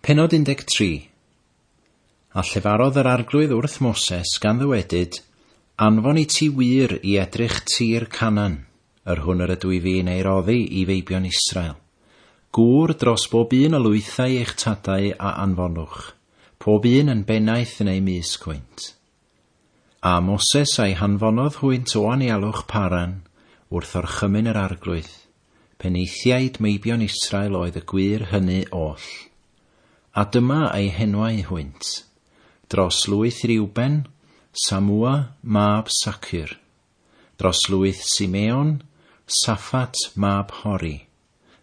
Pennod 13 A llefarodd yr Arglwydd wrth Moses, gan ddywedyd, Anfon i ti wŷr i edrych tir Canan, yr hwn yr ydw i fi'n ei roddi i feibion Israel. Gŵr dros bob un o lwythau eich tadau a anfonwch, pob un yn bennaeth yn eu mysg hwynt. A Moses a'i hanfonodd hwynt o anialwch Paran, wrth orchymyn yr Arglwydd, penaethiaid meibion Israel oedd y gwŷr hyny oll. A dyma eu henwau hwynt, dros lwyth Riwben, Samua, mab Sacur, dros lwyth Simeon, Saffat, mab Hori,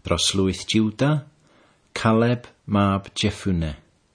dros lwyth Juda, Caleb, mab Jeffune.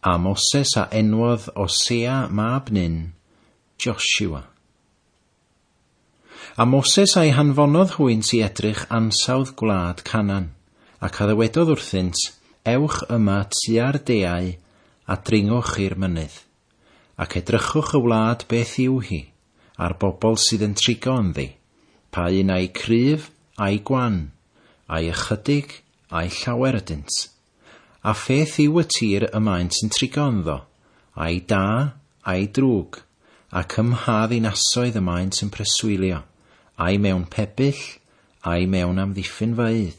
A Moses a enwodd Osea mab Nun, Joshua. A Moses a'i hanfonodd hwynt i edrych ansawdd gwlad Canan, ac a ddywedodd wrthynt, Ewch yma tua'r deau, a dringwch i'r mynydd, ac edrychwch y wlad beth yw hi, a'r bobl sydd yn trigo ynddi, pa un a'i cryf, a'i gwan, a'i ychydig, a'i llawer ydynt. A pheth yw y tir y maent yn trigo ynddo, ai da, ai drwg, ac ym mha ddinasoedd y maent yn preswylio, ai mewn pebyll, ai mewn amddiffynfaoedd?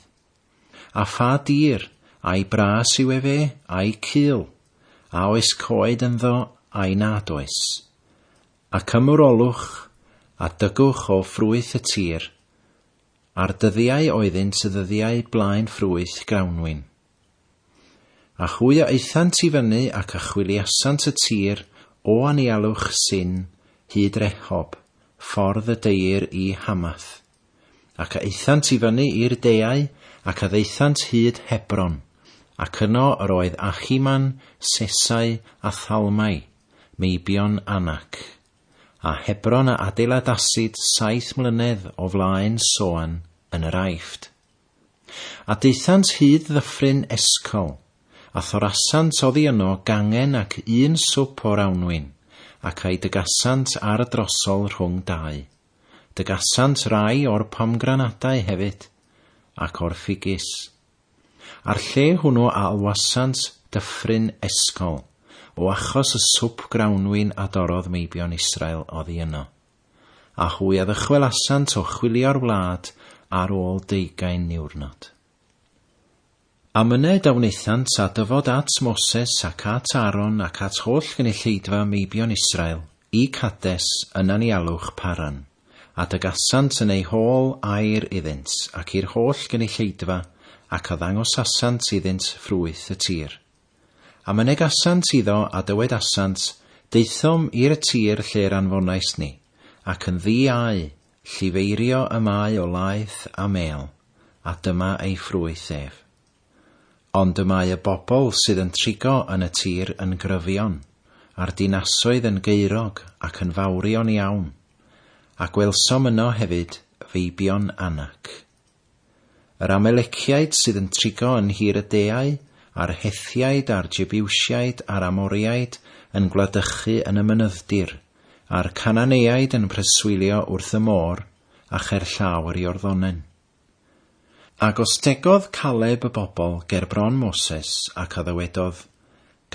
A pha dir, ai bras yw efe, ai cul? A oes coed ynddo, ai nad oes? Ac ymwrolwch, a dygwch o ffrwyth y tir, A'r dyddiau oeddynt y ddyddiau blaen ffrwyth grawnwin. A hwy a aethant i fyny ac a chwiliasant y tir o anialwch Sin hyd Rehob, ffordd y deir i Hamath. Ac a aethant i fyny i'r deau ac a ddaethant hyd Hebron, ac yno yr oedd Achiman, Sesai, a Thalmai, meibion Anac. a Hebron a adeiladasid saith mlynedd o flaen Soan yn yr Aifft. A daethant hyd ddyffryn Escol, a thorasant oddi yno gangen ac un swp o'r awnwyn, ac a'i dygasant ar y drosol rhwng dau. Dygasant rai o'r pomgranadau hefyd, ac o'r ffigys. A'r lle hwnnw a alwasant Dyffryn Esgol, o achos y swp grawnwin a dorrodd meibion Israel oddi yno. A hwy a ddychwelasant o chwilio'r wlad ar ôl deugain niwrnod. A myned a wnaethant a dyfod at Moses ac at Aaron ac at holl gynulleidfa meibion Israel i Cades yn anialwch Paran. a dygasant yn eu hôl air iddynt ac i'r holl gynulleidfa, ac a ddangosasant iddynt ffrwyth y tir. A mynegasant iddo, a dywedasant, Daethom ir y tir lle'r anfonaist ni, ac yn ddi a'u llifeirio y mae o laeth a mêl, a dyma ei ffrwyth ef. Ond y mae y bobl sydd yn trigo yn y tir yn gryfion, a'r dinasoedd yn geurog ac yn fawrion iawn, a gwelsom yno hefyd feibion Anak. Yr Ameleciaid sydd yn trigo yn nhir y deau, a'r Hethiaid a'r Jebiwsiaid a'r Amoriaid yn gwladychu yn y mynyddir, a'r Cananeaid yn preswylio wrth y môr, a cherllaw yr Iorddonen. Ac os tegodd Caleb y bobl ger bron Moses, ac a ddywedodd,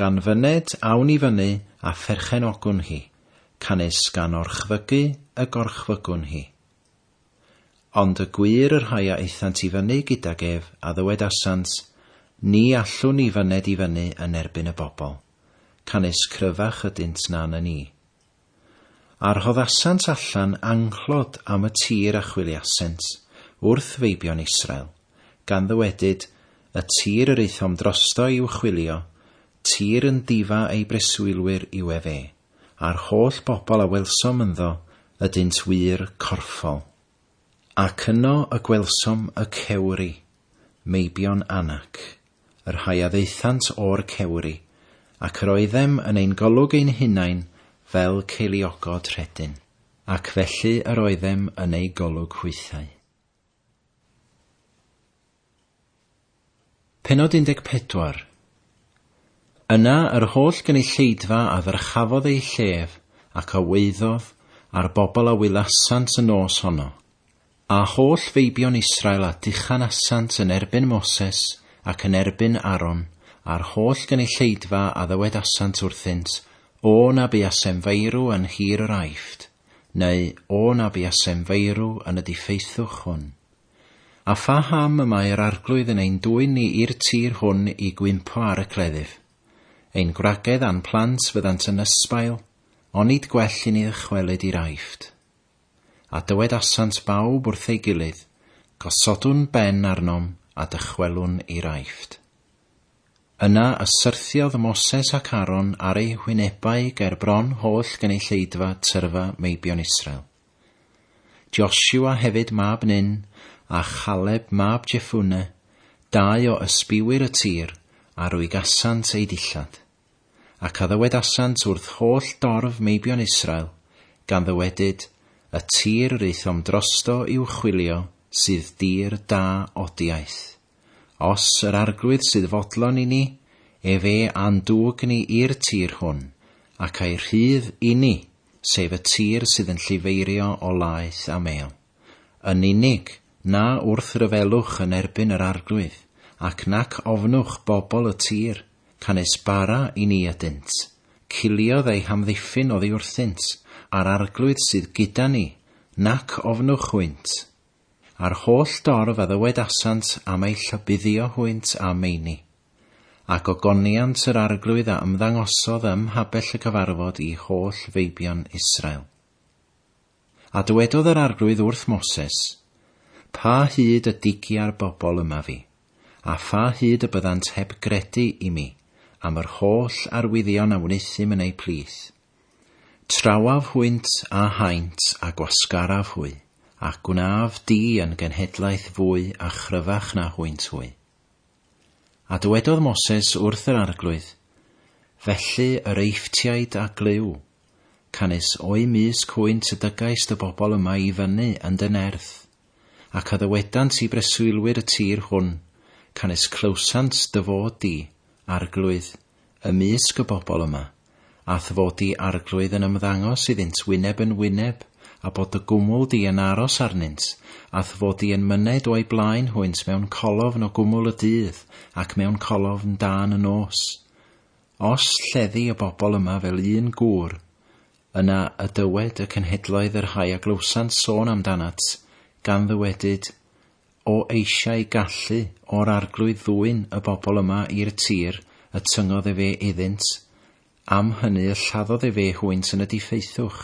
Gan fyned, awn i fyny, a pherchenogwn hi, canys gan orchfygu y gorchfygwn hi. Ond y gwir y rhai a aethant i fyny gydag ef, a ddywedasant, Ni allwn ni fyned i fyny yn erbyn y bobl, canys cryfach ydynt na na ni. A rhoddasant allan anghlod am y tir a chwiliasent wrth feibion Israel, gan ddywedyd, Y tir yr aethom drosto i'w chwilio, tir yn difa ei breswylwyr yw ef e, a'r holl bobl a welsom ynddo ydynt wir corffol. Ac yno y gwelsom y cewri, meibion Anak, y rhai a ddaethant o'r cewri, ac yr oeddem yn ein golwg ein hunain fel ceiliogod rhedyn, ac felly yr oeddem yn ei golwg hwythau. Pennod 14. Yna yr holl gynulleidfa a ddyrchafodd eu llef, ac a waeddodd, a'r bobl a wylasant y nos honno, a holl feibion Israel a dychan asant yn erbyn Moses ac yn erbyn Aaron, a'r holl gynulleidfa a ddywedasant wrthynt, O na buasem feirw yn nhir yr Aifft, neu O na buasem feirw yn y diffeithwch hwn. A pha ham y mae yr Arglwydd yn ein dwyn ni i'r tir hwn i gwympo ar y cleddyf? Ein gwragedd a'n plant fyddant yn ysbail, onid gwell i ni ddychwelyd i'r Aifft? A dywedasant bawb wrth ei gilydd, Gosodwn ben arnom a dychwelwn i'r Aifft. Yna y syrthiodd Moses ac Aaron ar eu hwynebau ger bron holl gynulleidfa tyrfa meibion Israel. Joshua hefyd mab Nun, a Chaleb mab Jeffune, dau o ysbiwyr y tir, a rwygasant eu dillad. Ac a ddywedasant wrth holl dorf meibion Israel, gan ddywedyd, Y tir yr aethom drosto i'w chwilio sydd dir da odiaeth. Os yr Arglwydd sydd fodlon i ni, efe a'n dwg ni i'r tir hwn, ac a'i rhydd i ni, sef y tir sydd yn llifeirio o laeth a mêl. Yn unig, na wrth ryfelwch yn erbyn yr Arglwydd, ac nac ofnwch bobl y tir, canys bara i ni ydynt. Ciliodd eu hamddiffyn oddi wrthynt, a'r Arglwydd sydd gyda ni, nac ofnwch hwynt. a'r holl dorf a ddywedasant am ei llybuddio hwynt a meini. Ac ogoniant yr Arglwydd a ymddangosodd ym mhabell y cyfarfod i holl feibion Israel. A dywedodd yr Arglwydd wrth Moses, Pa hyd y digia'r bobl yma fi, a pha hyd y byddant heb gredu i mi am yr holl arwyddion a wneuthum yn eu plith? Trawaf hwynt a haint a gwasgaraf hwy, ac gwnaf di yn genhedlaeth fwy a chryfach na hwynt hwy. A dywedodd Moses wrth yr arglwydd, Felly yr Eifftiaid a glyw, canys o'u mysg hwynt y dygais dy bobl yma i fyny yn dy nerth, ac a ddywedant i breswylwyr y tir hwn, Canys clywsant dy fod di, Arglwydd, ymysg y bobl yma, a'th fod di, Arglwydd, yn ymddangos iddynt wyneb yn wyneb, a bod dy gwmwl di yn aros arnynt, a'th fod di yn myned o'u blaen hwynt mewn colofn o gwmwl y dydd, ac mewn colofn dân y nos. Os lleddi y bobl yma fel un gŵr, Yna y dywed y cenhedloedd y rhai a glywsant sôn amdanat, gan ddywedyd, O eisiau gallu o'r arglwydd ddwyn y bobl yma i'r tir y tyngodd efe iddynt, am hynny y lladdodd efe hwynt yn y diffeithwch.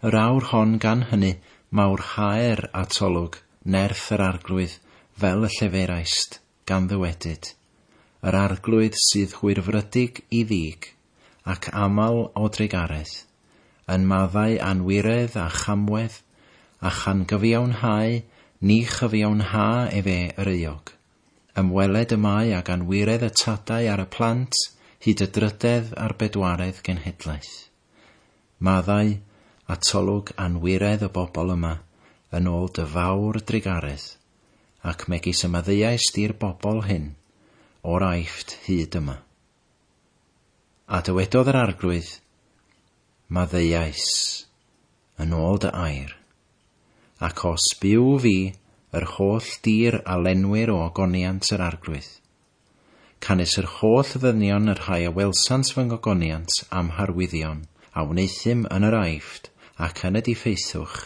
Yr awr hon gan hynny mawrhaer atolwg nerth yr arglwydd fel y lleferaist, gan ddywedyd, Yr arglwydd sydd hwyrfrydig i ddig. ac aml o drugaredd, yn maddau anwiredd a chamwedd, a chan gyfiawnhau ni chyfiawnha efe yr euog. Ymweled y mae ag anwiredd y tadau ar y plant hyd y drydedd a'r bedwaredd genhedlaeth. Maddau, atolwg, anwiredd y bobl yma, yn ôl dy fawr drugaredd, ac megis y maddeuaist i'r bobl hyn, o'r Aifft hyd yma. A dywedodd yr Arglwydd, Maddeuais yn ôl dy air, ac os byw fi, yr holl dir a lenwir o ogoniant yr Arglwydd, canys yr holl ddynion y rhai a welsant fy ngogoniant a'm harwyddion, a wneuthum yn yr Aifft ac yn y diffaethwch,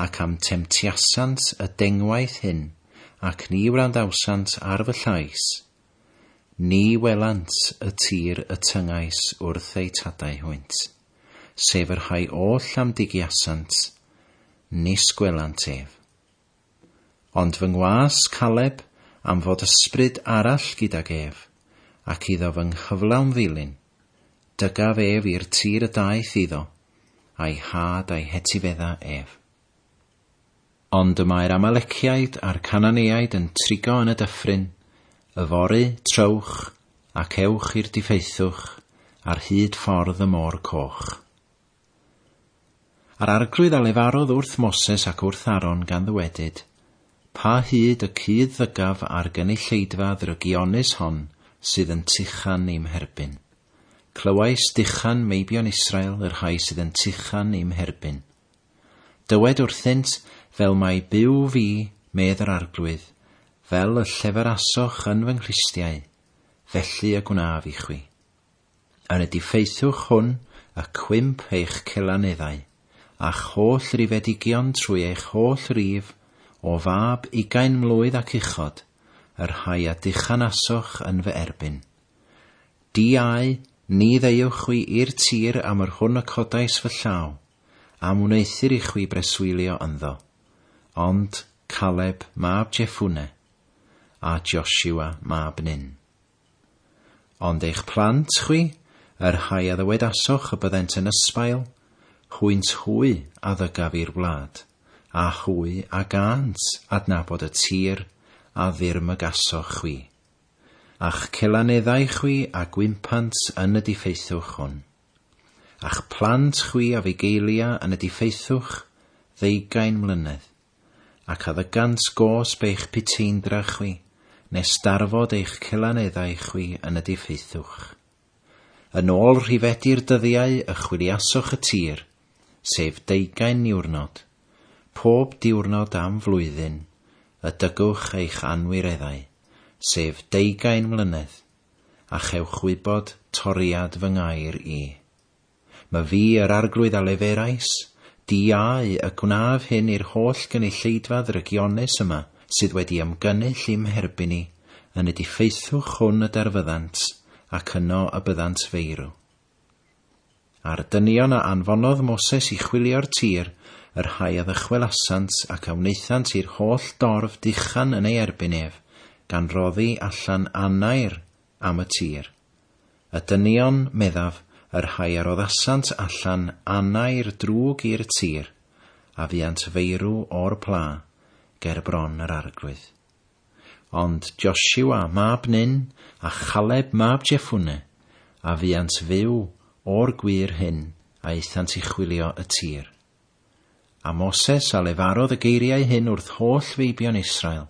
ac a'm temtiasant y dengwaith hyn, ac ni wrandawsant ar fy llais, Ni welant y tir y tyngais wrth eu tadau hwynt, sef y rhai oll am digiasant, nis gwelant ef. Ond fy ngwas Caleb am fod ysbryd arall gydag ef, ac iddo fy nghyflawn ddilyn, dygaf ef i'r tir y daeth iddo, a'i had a'i hetifedda ef. Ond y mae'r Amaleciaid a'r Cananeaid yn trigo yn y dyffryn, yfory, trowch, ac ewch i'r diffaethwch, ar hyd ffordd y Môr Coch. A'r arglwydd a lefarodd wrth Moses ac wrth Aron gan ddywedyd, Pa hyd y cudd ddygaf ar gynulleidfa ddrygionus hon sydd yn tuchan i'm herbyn? Clywais duchan meibion Israel, y rhai sydd yn tuchan i'm herbyn. Dywed wrthynt, Fel mai Duw fi, medd yr Arglwydd, fel y lleferasoch yn fy nghlustiau, felly y gwnaf i chwi. Yn y diffeithwch hwn y cwymp eich celaneddau, a'ch holl rifedigion trwy eich holl rif, o fab ugain mlwydd ac uchod, y rhai a dychanasoch yn fy erbyn. Diau, ni ddeuwch chwi i'r tir am yr hwn y codais fy llaw, am wneuthur i chwi breswylio ynddo, ond Caleb mab Jeffune, a Joshua mab Nun. Ond eich plant chwi, y rhai a ddywedasoch y byddent yn ysbail, hwynt hwy a ddygaf i'r wlad, a hwy a gânt adnabod y tir a ddirmygasoch chwi, a'ch celaneddau chwi a gwympant yn y diffeithwch hwn. A'ch plant chwi a fugeillia yn y diffeithwch ddeugain mlynedd, ac a ddygant gosb eich puteindra chwi, nes darfod eich celaneddau chwi yn y diffeithwch. Yn ôl rhifedi'r dyddiau y chwiliasoch y tir, sef deugain niwrnod, pob diwrnod am flwyddyn, y dygwch eich anwireddau, sef deugain mlynedd, a chewch wybod toriad fy ngair i. Ma fi yr Arglwydd a leferais, diau, y gwnaf hyn i'r holl gynulleidfa ddrygionus yma sydd wedi ymgynnull i'm herbyn i, yn y diffeithwch hwn y darfyddant, ac yno y byddant feirw. A'r dynion a anfonodd Moses i chwilio'r tir, y rhai a ddychwelasant, ac a wnaethant i'r holl dorf duchan yn ei erbyn ef, gan roddi allan anair am y tir. Y dynion, meddaf, y rhai a roddasant allan anair drwg i'r tir, a fuant feirw o'r pla, ger bron yr arglwydd. Ond Josua mab Nun a Chaleb mab Jeffune a fuant fyw o'r gwŷr hyn a aethant i chwilio y tir. A Moses a lefarodd y geiriau hyn wrth holl feibion Israel,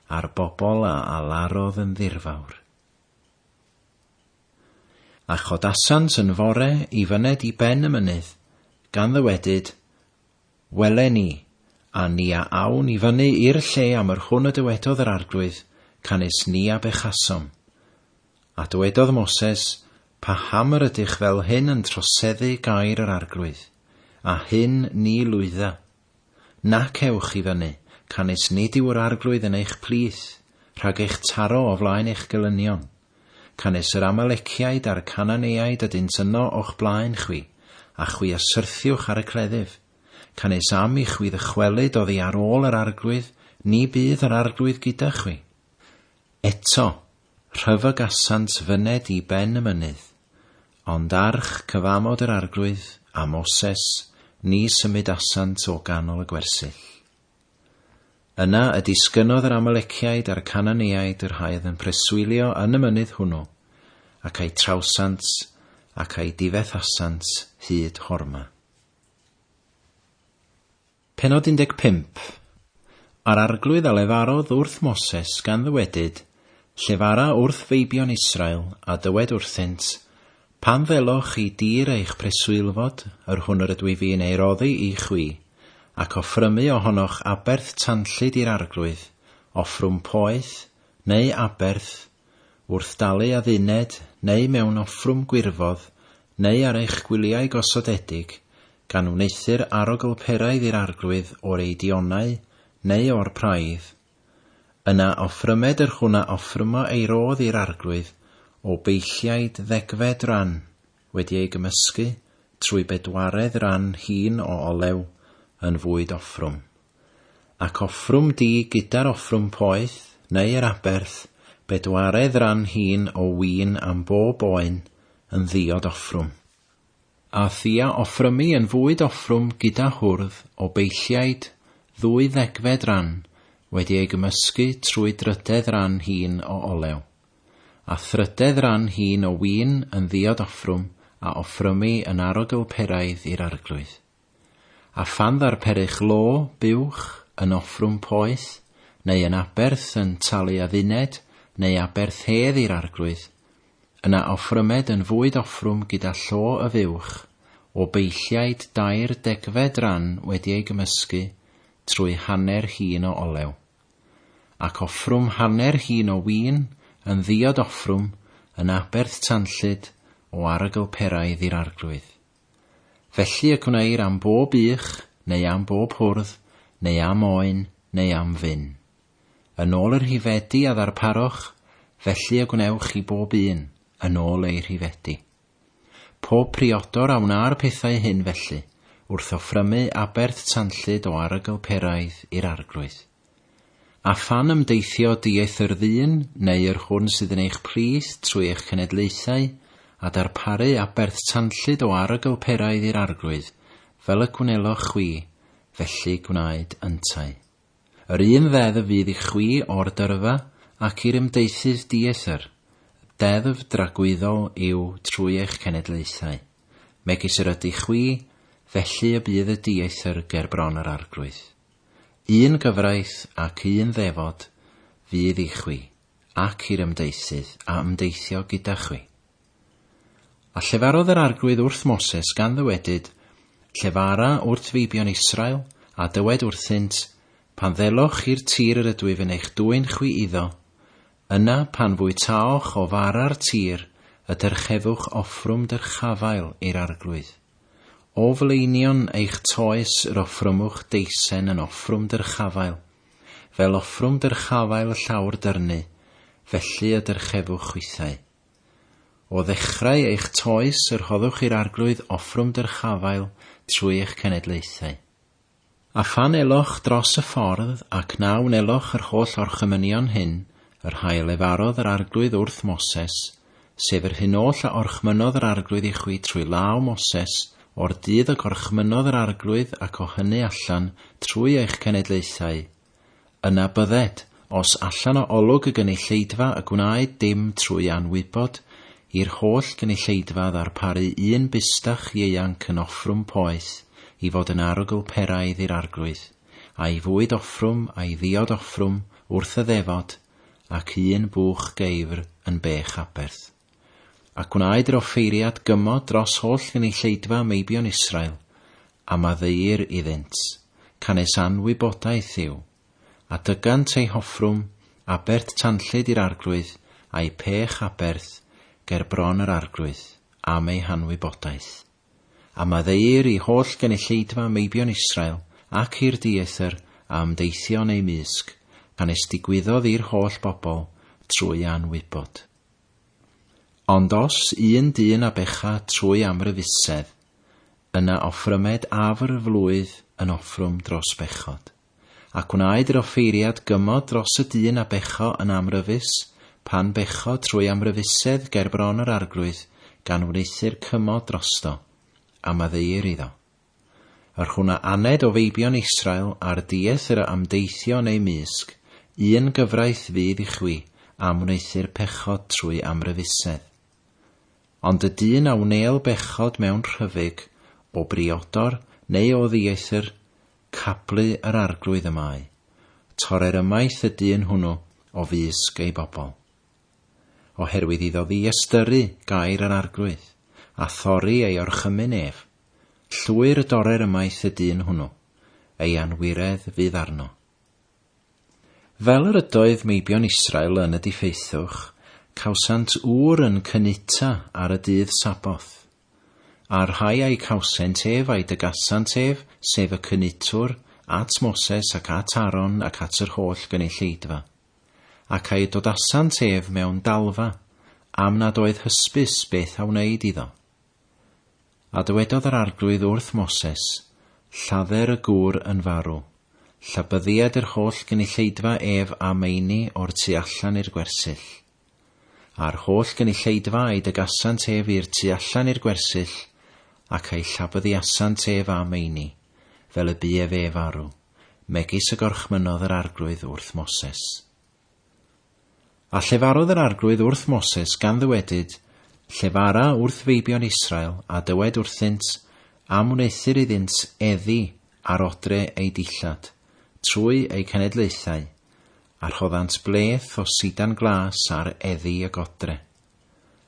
a'r bobl a alarodd yn ddirfawr. A chodasant yn fore i fyned i ben y mynydd, gan ddywedyd, Welen ni, a ni a awn i fyny i'r lle am yr hwn y dywedodd yr Arglwydd, canys ni a bechasom. A dywedodd Moses, Paham yr ydych fel hyn yn troseddu gair yr Arglwydd? a hyn ni lwydda. Nac ewch i fyny, canys nid yw yr Arglwydd yn eich plith, rhag eich taro o flaen eich gelynion. Canys yr Amaleciaid a'r Cananeaid ydynt yno o'ch blaen chwi, a chwi a syrthiwch ar y cleddyf. Canys am i chwi ddychwelyd oddi ar ôl yr Arglwydd, ni bydd yr Arglwydd gyda chwi. Eto, rhyfygasant fyned i ben y mynydd. Ond arch cyfamod yr Arglwydd, a Moses, ni symudasant o ganol y gwersyll. Yna y disgynnodd yr Amaleciaid a'r Cananeaid yr haodd yn preswylio yn y mynydd hwnnw, ac a'i trawsant, ac a'i difethasant hyd Horma. Pennod 15 A'r arglwydd a lefarodd wrth Moses gan ddywedyd, Llefara wrth feibion Israel, a dywed wrthynt, Pan ddelwch chi dir eich preswylfod, yr hwn yr ydw i fi'n ei roddi i chwi, ac offrymu o honoch aberth tanllyd i'r arglwydd, offrwm poeth, neu aberth, wrth dalu adduned, neu mewn offrwm gwirfodd, neu ar eich gwyliau gosodedig, gan wneuthur aroglperaidd i'r arglwydd o'r eidionau, neu o'r praidd, Yna offrymed yr hwn a offrymo ei rodd i'r Arglwydd o beilliaid ddegfed ran, wedi ei gymysgu, trwy bedwaredd ran hîn o olew, yn fwyd offrwm. Ac offrwm di gyda'r offrwm poeth, neu yr aberth, bedwaredd ran hîn o win am bob oen, yn ddiod offrwm. A thua offrymu yn fwyd offrwm gyda hwrdd o beilliaid ddwy ddegfed ran wedi ei gymysgu trwy drydedd ran hîn o olew, a thrydedd ran hîn o win yn ddiod offrwm a offrymu yn arogl peraidd i'r arglwydd. A phan ddarperych lo, buwch, yn offrwm poeth, neu yn aberth yn talu adduned, neu aberth hedd i'r arglwydd, yna offrymed yn fwyd offrwm gyda llo y fuwch, o beilliaid dair degfed ran wedi ei gymysgu, trwy hanner hin o olew. Ac offrwm hanner hin o win, yn ddiod offrwm, yn aberth tanllyd, o arogl peraidd i'r arglwydd. Felly y gwneir am bob ych, neu am bob hwrdd, neu am oen, neu am fin. Yn ôl y rhifedi a ddarparoch, felly y gwnewch i bob un, yn ôl eu rhifedi. Pob priodor a wna'r pethau hyn felly, wrth offrymu aberth tanllyd o arogl peraidd i'r arglwydd. A phan ymdeithio diaeth yr ddyn neu yr hwn sydd yn eich plith trwy eich cenedlaethau, a darparu aberth tanllyd o arogl peraidd i'r Arglwydd, fel y gwnelloch chwi, felly gwnaed yntau. Yr un ddeddf fydd i chwi o'r dyrfa, ac i'r ymdeithydd diaeth yr, deddf dragwyddol yw trwy eich cenedlaethau, megis yr ydych chwi, felly y bydd y diaeth yr ger bron yr Arglwydd. Un gyfraith ac un ddefod fydd i chwi ac i'r ymdeisydd a ymdeithio gyda chwi. A llefarodd yr Arglwydd wrth Moses gan ddywedyd, Llefara wrt feibion Israel, a dywed wrthynt, Pan ddelwch i'r tir yr ydwyf yn eich dwyn chwi iddo, yna pan fwytaoch o fara'r tir y dyrchefwch offrwm dyrchafael i'r Arglwydd. O flaenion eich toes yr offrymwch deisen yn offrwm dyrchafael, fel offrwm dyrchafael y llawr dyrnu, felly y dyrchefwch chwithau. O ddechrau eich toes y rhoddwch i'r Arglwydd offrwm dyrchafael trwy eich cenedlaethau. A phan eloch dros y ffordd, ac na wneloch yr holl orchymynion hyn, yr hael lefarodd yr Arglwydd wrth Moses, sef yr hyn oll a orchmynnodd yr Arglwydd i chwi trwy law Moses, o'r dydd a gorchmynnodd yr Arglwydd ac o hyny allan trwy eich cenedlaethau, Yna bydded, os allan o olwg y gynulleidfa y gwnaed dim trwy anwybod, i'r holl gynulleidfa ddarparu un bustach ieuanc yn offrwm poeth i fod yn arogl peraidd i'r Arglwydd, a'i fwyd offrwm a'i ddiod offrwm wrth y ddefod, ac un bwch geifr yn bech aberth. A gwnaed yr offeiriad gymod dros holl gynulleidfa meibion Israel, a maddeuir iddynt, canys anwybodaeth yw, a dygant eu hoffrwm abert tanllyd i'r arglwydd a'u pech aberth ger bron yr arglwydd, am eu hanwybodaeth. A maddeuir i holl gynulleidfa meibion Israel, ac i'r dieithr a ymdeithio yn eu mysg, canys digwyddodd i'r holl bobl trwy anwybod. Ond os un dyn a becha trwy amryfusedd, yna offrymed afr flwydd yn offrwm dros bechod. Ac wnaed yr offeiriad gymod dros y dyn a becho yn amryfus, pan becho trwy amryfusedd gerbron yr Arglwydd, gan wneuthur cymod drosto, a maddeuir iddo. Yr hwn a aned o feibion Israel ar dieth yr a ymdeithio yn eu mysg, un gyfraith fydd i chwi am wneuthur pechod trwy amryfusedd. Ond y dyn a wnêl bechod mewn rhyfyg, o briodor, neu o ddieithr, cablu yr arglwydd y mae, torrer ymaith y dyn hwnw o fysg ei bobl. Oherwydd iddo ddiystyru gair yr arglwydd, a thorri ei orchymyn ef, Llwyr y dorer ymaith y dyn hwnnw, ei anwiredd fydd arno. Fel yr ydoedd meibion Israel yn y diffeithwch, cawsant ŵr yn cynuta ar y dydd Saboth. A'r rhai a'i cawsent ef a'i dygasant ef, sef y cynutwr, at Moses ac at Aron ac at yr holl gynulleidfa. Ac a'i dodasant ef mewn dalfa, am nad oedd hysbys beth a wneyd iddo. A dywedodd yr Arglwydd wrth Moses, Lladder y gŵr yn farw. Llabyddied yr holl gynulleidfa ef a meini o'r tu allan i'r gwersyll. A'r holl gynulleidfa a'i dygasant ef i'r tu allan i'r gwersyll, ac a'i llabyddiasant ef a meini, fel y bu ef ef arw, megis y gorchmynnodd yr Arglwydd wrth Moses. A llefarodd yr Arglwydd wrth Moses, gan ddywedyd, Llefara wrth feibion Israel, a dywed wrthynt, Am wneuthur iddynt eddi ar odre eu dillad, trwy eu cenedlaethau, a rhoddant bleth o sidan glas ar eddi y godre.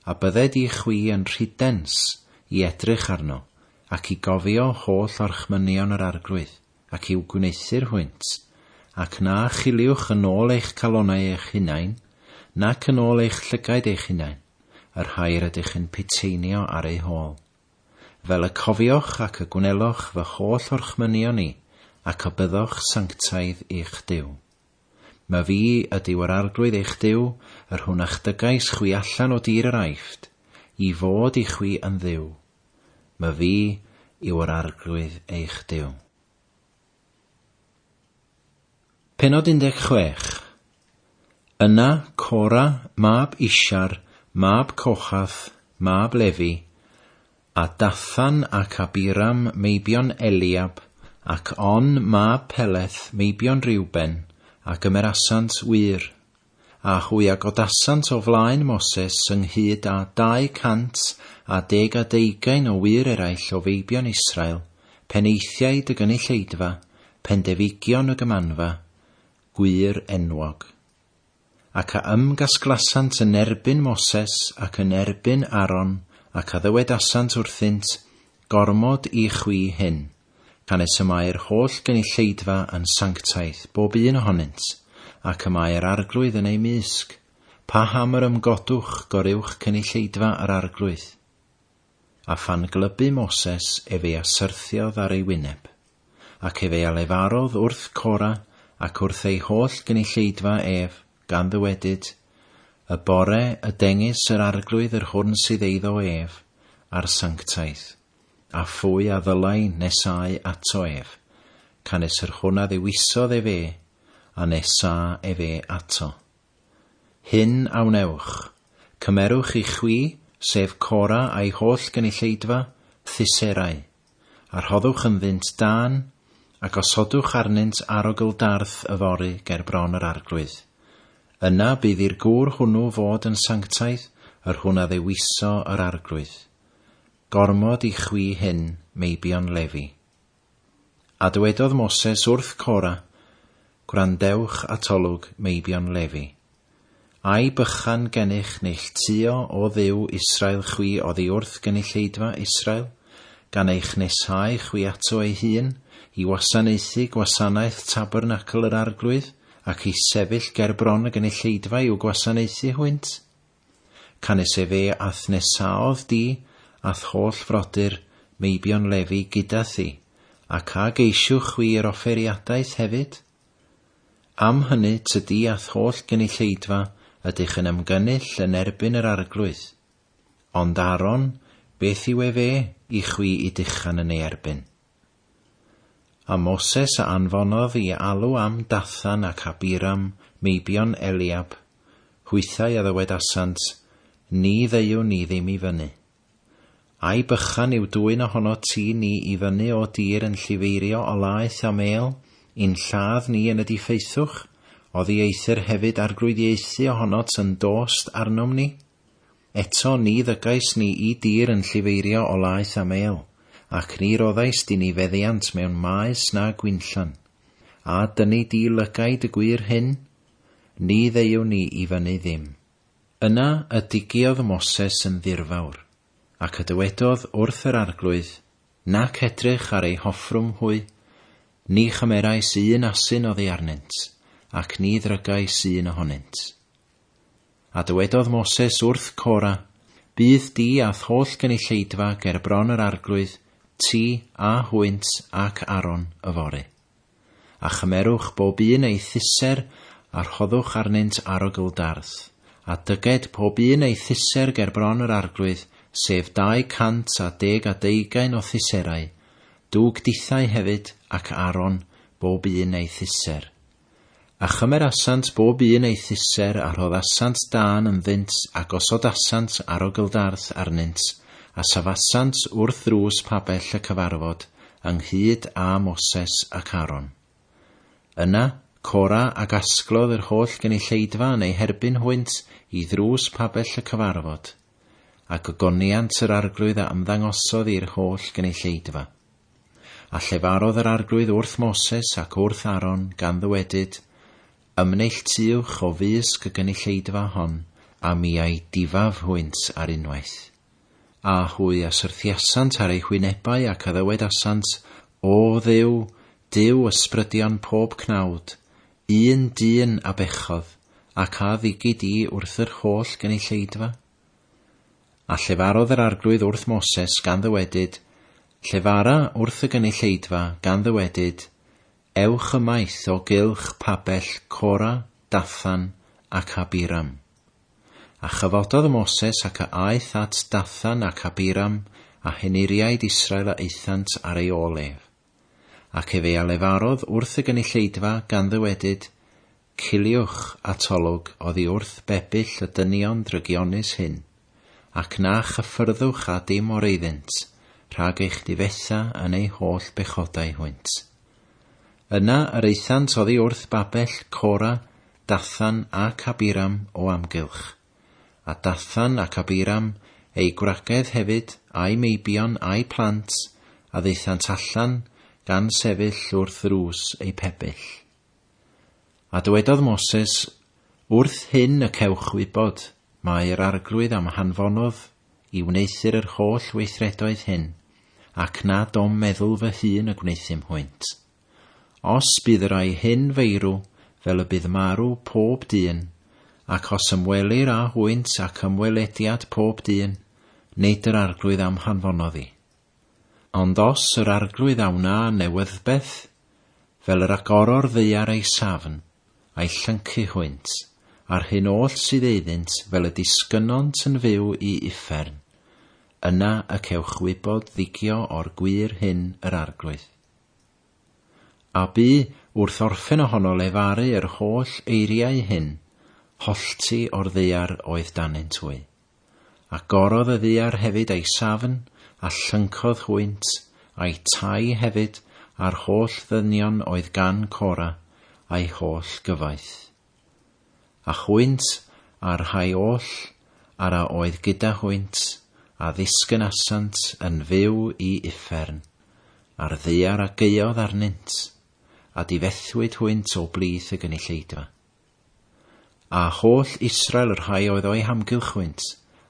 A bydde di chwi yn rhidens i edrych arno, ac i gofio holl orchmynion yr Arglwydd, ac i'w gwneuthur hwynt, ac na chiliwch yn ôl eich calonnau eich hunain, nac yn ôl eich llygaid eich hunain, y rhai yr ydych yn piteinio ar eu hôl. Fel y cofioch ac y gwneloch fy holl orchmynion i, ac y byddoch sanctaidd i'ch Duw. My fi ydyw yr Arglwydd eich Duw, yr hwn a'ch dygais chwi allan o dir yr Aifft, i fod i chwi yn Dduw. My fi yw yr Arglwydd eich Duw. Penod 16 Yna Cora mab Ishar, mab Cochath, mab Lefi, a Dathan ac Abiram meibion Eliab, ac On mab Peleth meibion Reuben, a gymerasant wŷr. A hwy a godasant o flaen Moses ynghyd â dau cant a deg a deugain o wŷr eraill o feibion Israel, penaethiaid y gynulleidfa, pendefigion y gymanfa, gwŷr enwog. Ac a ymgasglasant yn erbyn Moses ac yn erbyn Aaron, ac a ddywedasant wrthynt, Gormod i chwi hyn. canys y mae'r holl gynulleidfa yn sanctaidd, bob un ohonynt, ac y mae yr Arglwydd yn eu mysg, paham yr ymgodwch goruwch cynulleidfa yr Arglwydd? A phan glybu Moses ef ei asyrthiodd ar ei wyneb, ac ef ei alefarodd wrth Cora ac wrth ei holl gynulleidfa ef, gan ddywedyd, Y bore y dengys yr Arglwydd yr hwn sydd eiddo ef, a'r sanctaidd. A phwy a ddylai nesáu ato ef? Canys yr hwn a ddewisodd ef e, a nesâ ef e ato. Hyn a wnewch, Cymerwch i chwi, sef Cora a'i holl gynulleidfa, thyserau, a rhoddwch ynddynt dân, a gosodwch arnynt arogl darth yfory ger bron yr arglwydd. Yna bydd i'r gŵr hwnnw fod yn sanctaidd, yr hwn a ddewiso yr arglwydd. Gormod i chwi hyn, meibion Lefi. A dywedodd Moses wrth Cora, Gwrandewch atolwg, meibion Lefi. Ai bychan gennych neilltuo o Dduw Israel chwi oddi wrth gynulleidfa Israel, gan eich nesáu chwi ato ei hun, i wasanaethu gwasanaeth tabernacl yr Arglwydd, ac i sefyll ger bron y gynulleidfa i'w gwasanaethu hwynt? Canys efe a'th nesaodd di, a'th holl frodyr, meibion Lefi, gyda thi, ac a geisiwch chwi yr offeriadaeth hefyd? Am hynny tydi a'th holl gynulleidfa ydych yn ymgynnull yn erbyn yr Arglwydd. Ond Aaron, beth yw efe i chwi i dychan yn ei erbyn? A Moses a anfonodd i alw am Dathan ac Abiram, meibion Eliab, hwythau a ddywedasant, Ni ddeuwn ni ddim i fyny. Ai bychan yw dwyn ohonot ti ni i fyny o dir yn llifeirio o laeth a mêl, i'n lladd ni yn y diffaethwch, oddi eithr hefyd arglwyddiaethu ohonot yn dost arnom ni? Eto ni ddygais ni i dir yn llifeirio o laeth a mêl, ac ni roddais di ni feddiant mewn maes na gwinllan. A dyni di lygaid y gwŷr hyn? Ni ddeuwn ni i fyny ddim. Yna y digiodd Moses yn ddirfawr, ac y dywedodd wrth yr arglwydd, Nac edrych ar ei hoffrwm hwy, ni chymerais un asyn oddi arnynt, ac ni ddrygais un ohonynt. A dywedodd Moses wrth Cora, Bydd di a'th holl gynulleidfa ger bron yr arglwydd, ti, a hwynt, ac Aaron, yfory. A chymerwch bob un ei thusser, a rhoddwch arnynt arogl dardd, a dyged pob un ei thusser ger bron yr arglwydd, sef dau cant a deg a deugain o thuserau, dug dithau hefyd, ac Aaron, bob un ei thusser. A chymerasant bob un ei thyser, a rhoddasant dân ynddynt, a gosodasant arogyldarth arnynt, a safasant wrth ddrws pabell y cyfarfod, ynghyd â Moses ac Aaron. Yna, Cora a gasglodd yr holl gynulleidfa yn eu herbyn hwynt i ddrws pabell y cyfarfod, a gogoniant yr arglwydd a ymddangosodd i'r holl gynulleidfa. A llefarodd yr Arglwydd wrth Moses ac wrth Aaron, gan ddywedyd, Ymneilltuwch o fysg y gynulleidfa hon, a mi a'i difaf hwynt ar unwaith. A hwy a syrthiasant ar eu hwynebau ac a ddywedasant, O Dduw, Duw ysbrydion pob cnawd, un dyn a bechodd, ac a ddigid i wrth yr holl gynulleidfa? A llefarodd yr arglwydd wrth Moses, gan ddywedyd, Llefara wrth y gynulleidfa, gan ddywedyd, Ewch ymaith o gylch pabell Cora, Dathan, ac Abiram. A chyfododd Moses ac a aeth at Dathan ac Abiram a henuriaid Israel a aethant ar ei ôl ef. ac ef ei alefarodd wrth y gynulleidfa gan ddywedyd, Ciliwch atolwg oddi wrth bebyll y dynion drygionus hyn, ac na chyffyrddwch â dim o'r eiddynt rhag eich difetha yn eu holl bechodau hwynt. Yna yr aethant oddi wrth babell Cora, Dathan ac Abiram o amgylch. A Dathan ac Abiram, eu gwragedd hefyd, a'u meibion, a'u plant, a ddaethant allan, gan sefyll wrth ddrws eu pebyll. A dywedodd Moses, Wrth hyn y cewch wybod, mae'r Arglwydd am hanfonodd i wneuthur yr holl weithredoedd hyn, ac nad o'm meddwl fy hun y gwneuthum hwynt. Os bydd y rhai hyn feirw fel y bydd marw pob dyn, ac os ymwelir â hwynt ac ymwelediad pob dyn, nid yr Arglwydd a'm hanfonodd i. Ond os yr Arglwydd a wna newyddbeth, fel yr agoro'r ddaear ei safn, a'i llyncu hwynt, a'r hyn oll sydd eiddynt fel y disgynnont yn fyw i uffern, yna y cewch wybod ddigio o'r gwir hyn yr Arglwydd. A bu, wrth orffen ohono lefaru yr holl eiriau hyn, hollti o'r ddaear oedd danynt hwy. Agorodd y ddaear hefyd ei safn, a llyncodd hwynt, a'u tai hefyd, a'r holl ddynion oedd gan Cora, a'u holl gyfoeth. A hwynt, a'r rhai oll, ar a oedd gyda hwynt, a ddisgynasant yn fyw i uffern, a'r ddaear a gaeodd arnynt, a difethwyd hwynt o blith y gynulleidfa. A holl Israel y rhai oedd o'i hamgylch hwynt,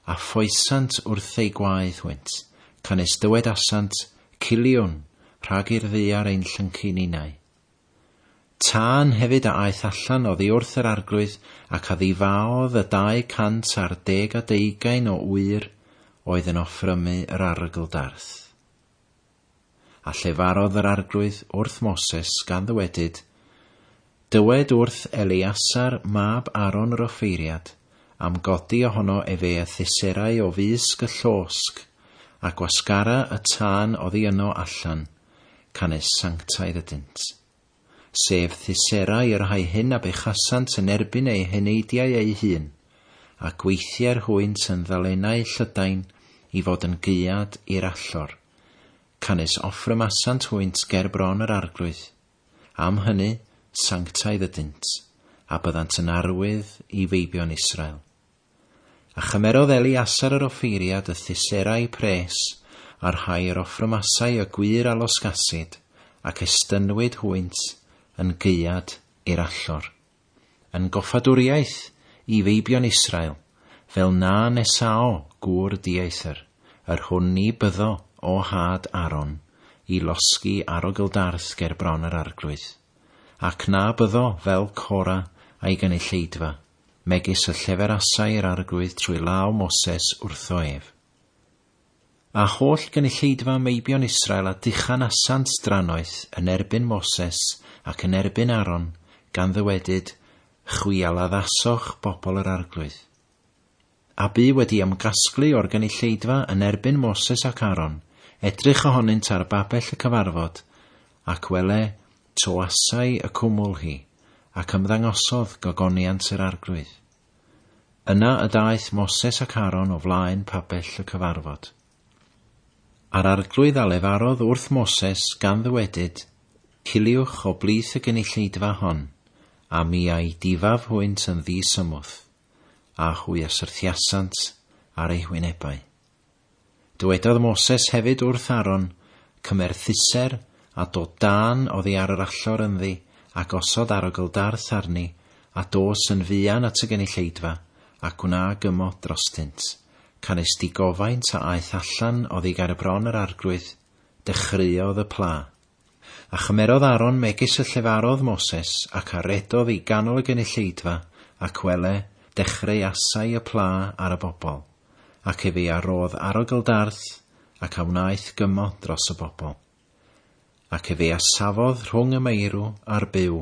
a ffoesant wrth eu gwaed hwynt, canys dywedasant, Ciliwn, rhag i'r ddaear ein llyncu ninau. Tân hefyd a aeth allan oddi wrth yr arglwydd, ac a ddifaodd y dau cant ar deg a deugain o ŵyr oedd yn offrymu yr argldarth. A llefarodd yr arglwydd wrth Moses, gan ddywedyd, Dywed wrth Eleasar mab Aaron yr offeiriad, am godi ohono efe y thyserau o fysg y llosg, a gwasgara y tân oddi yno allan, canys sanctaidd ydynt. Sef thysera y rhai hyn a bechasant yn erbyn eu heneidiau eu hun, a gweithier hwynt yn ddalenau Llydain i fod yn gaead i'r allor, canys offrymasant hwynt ger bron yr arglwydd. Am hynny, sanctaidd ydynt, a byddant yn arwydd i feibion Israel. A chymerodd Eliasar yr offeiriad y thyserau pres, a rhai yr offrymasau y gwŷr a losgasid, ac estynnwyd hwynt yn gaead i'r allor, yn goffadwriaeth i feibion Israel, fel na nesao gŵr dieithr yr hwn ni byddo o nhad Aaron i losgi arogl-darth ger bron yr arglwydd, ac na byddo fel Cora a'i gynulleidfa. megis y lleferasai yr Arglwydd trwy law Moses wrtho ef. A holl gynulleidfa meibion Israel a dychan asant drannoeth yn erbyn Moses ac yn erbyn Aaron, gan ddywedyd, Chwi a laddasoch bobl yr Arglwydd. a bu wedi ymgasglu o'r gynulleidfa yn erbyn Moses ac Aaron, edrych ohonynt ar babell y cyfarfod, ac wele, toasai y cwmwl hi, ac ymddangosodd gogoniant yr arglwydd. Yna y daeth Moses ac Aaron o flaen pabell y cyfarfod. A'r arglwydd a lefarodd wrth Moses gan ddywedyd, Ciliwch o blith y gynulleidfa hon, a mi a'i difaf hwynt yn ddi-symwth. a hwy a syrthiasant ar eu hwynebau. Dywedodd Moses hefyd wrth Aaron, Cymer thuser a dod dan oddi ar yr allor ynddi, a gosod arogl darth arni, a dos yn fuan at y gynulleidfa, a gwna gymod drostynt. Canys digofaint a aeth allan oddi ger y bron yr arglwydd, dechreuodd y pla. A chymerodd Aaron megis y llefarodd Moses, ac a redodd i ganol y gynulleidfa, ac wele, dechreu asau y pla ar y bobl, ac efe a rodd arogl darth, ac a wnaeth gymod dros y bobl. Ac efe a safodd rhwng y meirw a'r byw,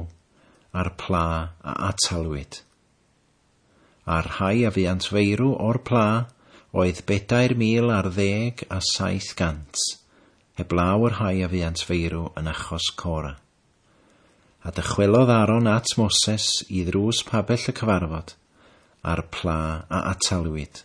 a'r pla a atalwyd. a'r rhai a fuant feirw o'r pla oedd bedair mil ar ddeg a saith gant, heblaw y rhai a fuant feirw yn achos Cora. A dychwelodd Aaron at Moses i ddrws pabell y cyfarfod, a'r pla a atalwyd.